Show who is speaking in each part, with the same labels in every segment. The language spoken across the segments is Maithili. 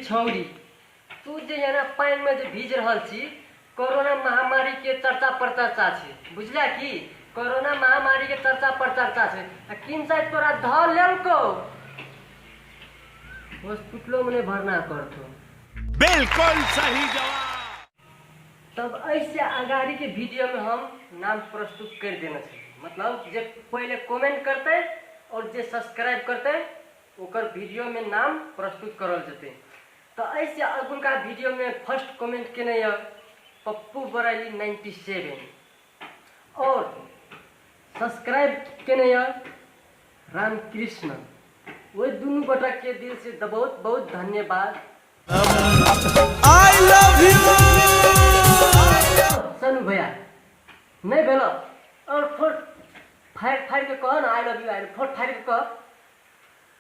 Speaker 1: छौरी तू जे एना पानिमे जे भीज रहल छी कोरोना महामारी के चर्चा प्रचर्चा छै बुझला की कोरोना महामारी के चर्चा प्रचर्चा छै आ किन साइड तोरा धऽ लेलको हॉस्पिटलो में नहीं भरना करतो बिल्कुल सही जवाब तब ऐसे अगाड़ी के वीडियो में हम नाम प्रस्तुत कर देना छै मतलब जे पहले कमेंट करते और जे सब्सक्राइब करते ओकर वीडियो में नाम प्रस्तुत करल जते त अइ से अगुलका भिडियो मे फर्स्ट कमेन्ट केने य पप्पु बरैली 97 और सब्सक्राइब केने य रामकृष्ण ओइ दुनु गोटा के दिल से बहुत बहुत धन्यवाद आई लव यू सनु भैया नै भेल और फोर फायर फायर के कह न I love you I four fire के कह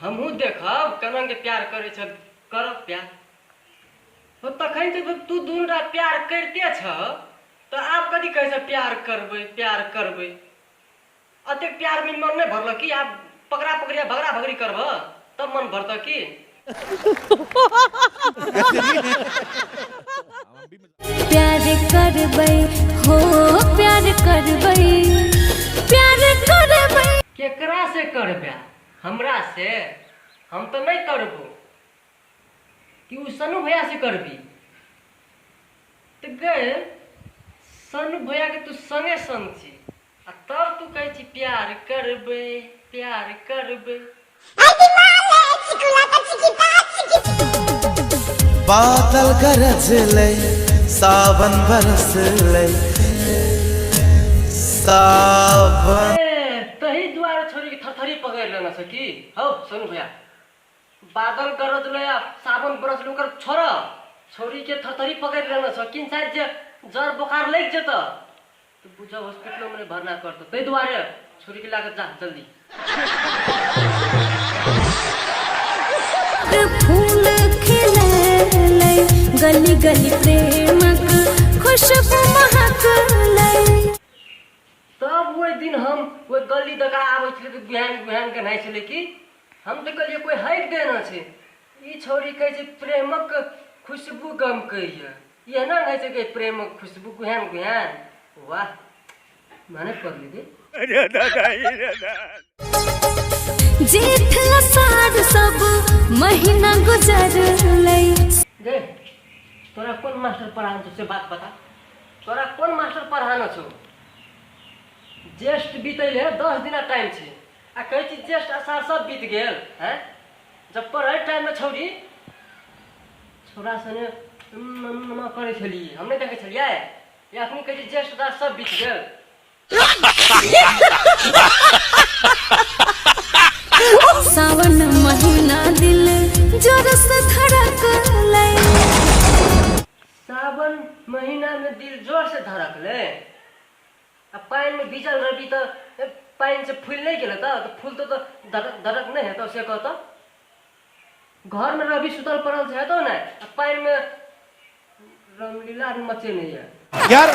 Speaker 1: हमहूँ देखब कना के प्यार करै छ करब प्यार हो तखन से तो तू दून रात प्यार करते छ तो आप कथी कहै छ प्यार करबै प्यार करबै अतेक प्यार में मन नहीं भरल कि आप पकड़ा पकड़िया भगड़ा भगड़ी करब तब मन भरत की प्यार करबै हो प्यार करबै प्यार करबै केकरा से करबे हमरा से हम तो नहीं करबो कि उ सनु भैया से करबी तो गए सनु भैया के तू संगे संग छी आ तब तू कहै छी प्यार करबै प्यार करबै बादल गरज लै सावन बरस लै सावन ए, तही दुआरे छोरी के थरथरी पकड़ लेना छ कि हौ सुन भैया बादल गरज ले आ सावन बरस ले ओकर छोड़ छोरी के थरथरी पकड़ लेना छ किन साइड जे जर बोखार लग जेत तऽ बुझऽ हॉस्पिटलो मे नहि भरना करतौ ताहि दुआरे छोड़ी के लागत जा जल्दी फूल खिललै गली गली प्रेमक खुशबू महकलै तब ओहि दिन हम ओहि गली दका आबै छलै तऽ बिहान बिहान के नहाइ छलै कि हम तऽ कहलियै कोइ हटि देना छै ई छौरी कहै छै प्रेमक खुशबू गमकैए ये ना है जो के प्रेम खुशबू गुहन गुहन वाह माने पड़ ली दे अरे दादा अरे दादा जेठ लसाद सब महीना गुजर लई दे तोरा कौन मास्टर पढ़ान तुझसे बात बता तोरा कौन मास्टर पढ़ाना छो ज्येष्ठ बीतल है दस दिन टाइम छे आ कहे छी ज्येष्ठ असार सब बीत गेल हैं जब पढ़ै टाइममे छौरी छोरा सने नमा करै छलियै हम नहि देखै छलियै या अखनी कहै छै ज्येष्ठ दास सब बीत गेल सावन महीना दिल जोर से धड़कले सावन महीना में दिल जोर से धड़कले आ पानिमे भीजल रहबी तऽ ए, पानिसँ फूलि नहि गेल हेतऽ तऽ फूलतो तऽ दरक दरक नहि हेतऽ से कहतऽ घरमे रहबी सुतल पड़ल से हेतौ नहि आ पानिमे रामलीला मचेने यऽ यार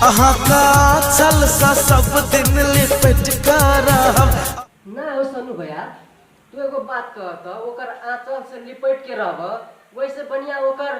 Speaker 1: अहाँका छल सा सब दिन लिपट का रहब ना हो सनु भैया तू एगो बात कह तऽ ओकर आँचल से लिपट के रहब वैसे बढ़िया ओकर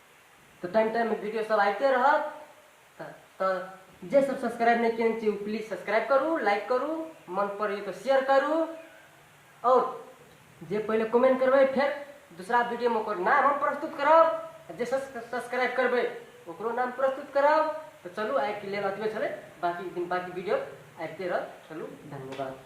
Speaker 1: तऽ टाइम टाइममे वीडियो सब आबिते रहत तऽ तऽ जे सब सब्सक्राइब नहि केने छी ओ प्लीज सब्सक्राइब करू लाइक करू मन पड़ैए तऽ शेयर करू आओर जे पहिले कमेंट करबै फेर दूसरा वीडियोमे ओकर नाम हम प्रस्तुत करब जे सब्सक्राइब करबै ओकरो नाम प्रस्तुत करब तऽ चलू आइके लेल अतबे छलै बाकी दिन बाकी वीडियो आबिते रह चलू धन्यवाद